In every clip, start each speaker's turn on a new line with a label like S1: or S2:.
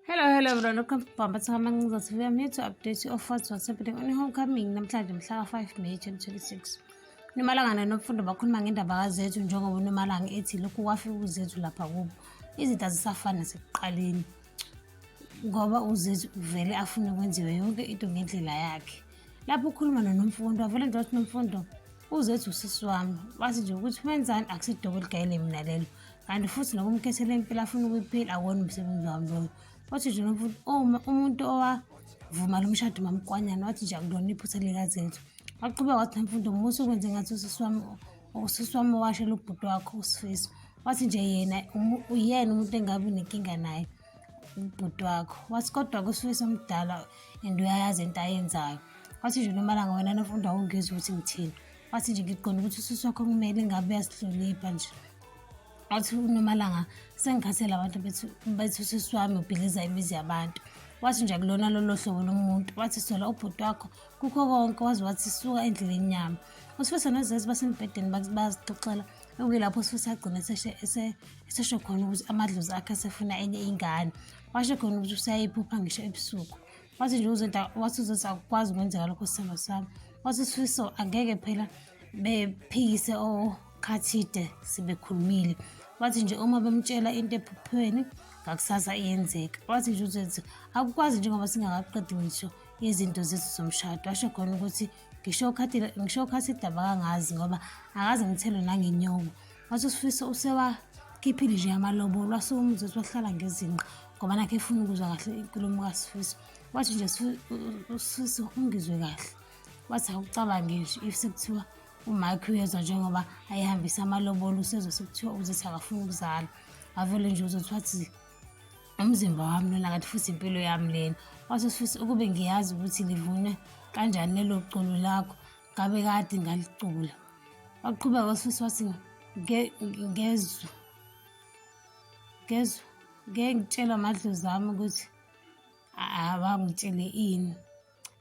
S1: Hello, hello everyone, welcome to Bamba Sihamba Ngizathu. We are here to update you of what's what's happening on homecoming namhlanje mhla 5 May 2026. Nomalangana nomfundo bakhuluma ngendaba kaZethu njengoba uNomalanga ethi lokhu kwafika uZethu lapha kubo. Izinto azisafani nasekuqaleni ngoba uZethu uvele afune kwenziwe yonke into ngendlela yakhe. lapho ukhuluma nonomfundo avele nje wathi nomfundo uzethu usisi wami wathi nje ukuthi wenzani akusidobo ligayele mina lelo kanti futhi nokumkhethela impilo afuna ukuyiphila akuwona umsebenzi wami loyo wathi nje nomfundo uma umuntu owavuma lo mshado mamkwanyana wathi nje akulona iphutha likazethu waqhubeka wathi nomfundo musa ukwenze ngathi usisi wami usisi wami owashela ubhuti wakho usifiso wathi nje yena uyena umuntu engabi nenkinga naye ubhuti wakho wathi kodwa kusuke somdala and uyayazi into ayenzayo wathi nje noma langa wena nofunda awungizwa ukuthi ngithini wathi nje ngiqonda ukuthi ususi wakho kumele ngabe uyasihlonipha nje wathi unomalanga sengikhathele abantu bethu bethu usisi wami ubhiliza imizi yabantu wathi nje kulona lolo hlobo lomuntu wathi sola ubhuti wakho kukho konke waze wathi suka endleleni yami usifisa nozazi basembhedeni bazixoxela okuyilapho usuthi agcine esesho khona ukuthi amadlozi akhe asefuna enye ingane washo khona ukuthi usayiphupha ngisho ebusuku wathi nje uzothi wathi uzothi akukwazi ukwenzeka lokho sithando sami wathi sifiso angeke phela bephikise okhathide sebekhulumile wathi nje uma bemtshela into ephuphweni ngakusasa iyenzeka wathi nje uzothi akukwazi njengoba singakaqedi ngisho izinto zethu zomshado washo khona ukuthi ngisho ukhathi ngisho ukhathi idaba kangazi ngoba akaze ngithelo nangenyoko wathi usifiso usewakhiphile nje amalobolo wasukumza ukuthi wahlala ngezinqa ngoba nakhe efuna ukuzwa kahle inkulumo kasifiso wathi nje usifiso ungizwe kahle wathi akucabange nje if sekuthiwa umike uyezwa njengoba ayihambisa amalobolo usezwe sekuthiwa uzethi akafuni ukuzala avele nje uzothi wathi umzimba wami lona kanti futhi impilo yami lena wase futhi ukube ngiyazi ukuthi livune kanjani lelo culo lakho ngabe kade ngalicula waqhubeka wasuthi wathi ngezwe ngezwe ngeke ngitshela amadlozi ami ukuthi abangitshele ini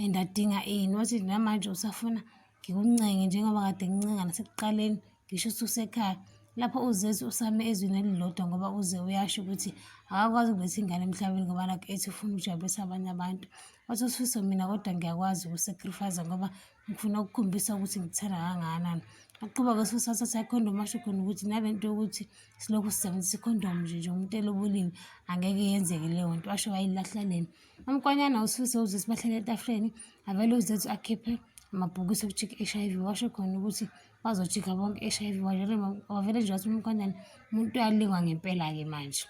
S1: and adinga ini wathi namanje usafuna ngikuncenge njengoba kade ngincengana sekuqaleni ngisho ususekhaya lapho uzezi usame ezwini elilodwa ngoba uze uyasho ukuthi akakwazi ukuletha ingane emhlabeni ngoba nakho ethi ufuna ukujabulisa abanye abantu wathi usifiso mina kodwa ngiyakwazi ukusacrifice ngoba ngifuna ukukhombisa ukuthi ngithanda kangakanani aqhuba ke sifisa sathi ikhondom asho khona ukuthi nale nto yokuthi silokhu sisebenzisa ikhondom nje nje umuntu elobulini angeke yenzeke leyo nto asho wayilahla lena umkwanyana usifiso uze sibahlele etafuleni avele uzethu akhiphe amabhokisi okujika i-h i v washo khona ukuthi bazojika bonke i-H_I_V bavele bavele nje bathi umkhwenyana umuntu uyalingwa ngempela-ke manje.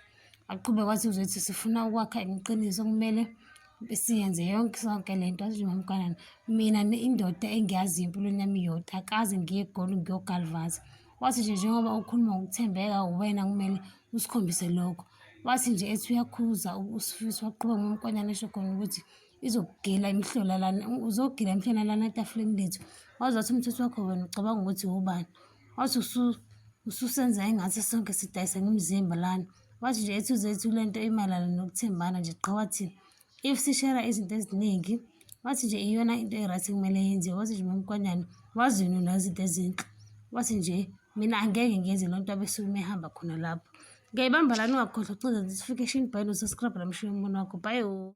S1: Aqhubeke wathi uzothi sifuna ukwakha iqiniso kumele siyenze yonke sonke le nto athi mamkhwenyana mina indoda engiyaziyo empilweni yami iyodwa akaze ngiye egoli ngiyogalvaza. Wathi nje njengoba ukhuluma ngokuthembeka uwena kumele usikhombise lokho. Wathi nje ethi uyakhuza uSifiso waqhubeka ngomkhwenyana esho khona ukuthi. izokugila imhlola lana uzogila imhlola lana etafuleni lethu wazathi umthetho wakho wena ucabanga ukuthi wubani wathi ususenza engathi sonke sidayisa ngomzimba lana wathi nje ethu zethu le nto imayelana nokuthembana nje qha wathi if sishera izinto eziningi wathi nje iyona into e-right kumele yenziwe wathi nje mamkwanyana wazini unazi into ezinhle wathi nje mina angeke ngenze loo nto abesuke umehamba khona lapho ngiyayibamba lani ungakhohlwa ucinga notification bhayini usascribe lamshiya umbona wakho bhayo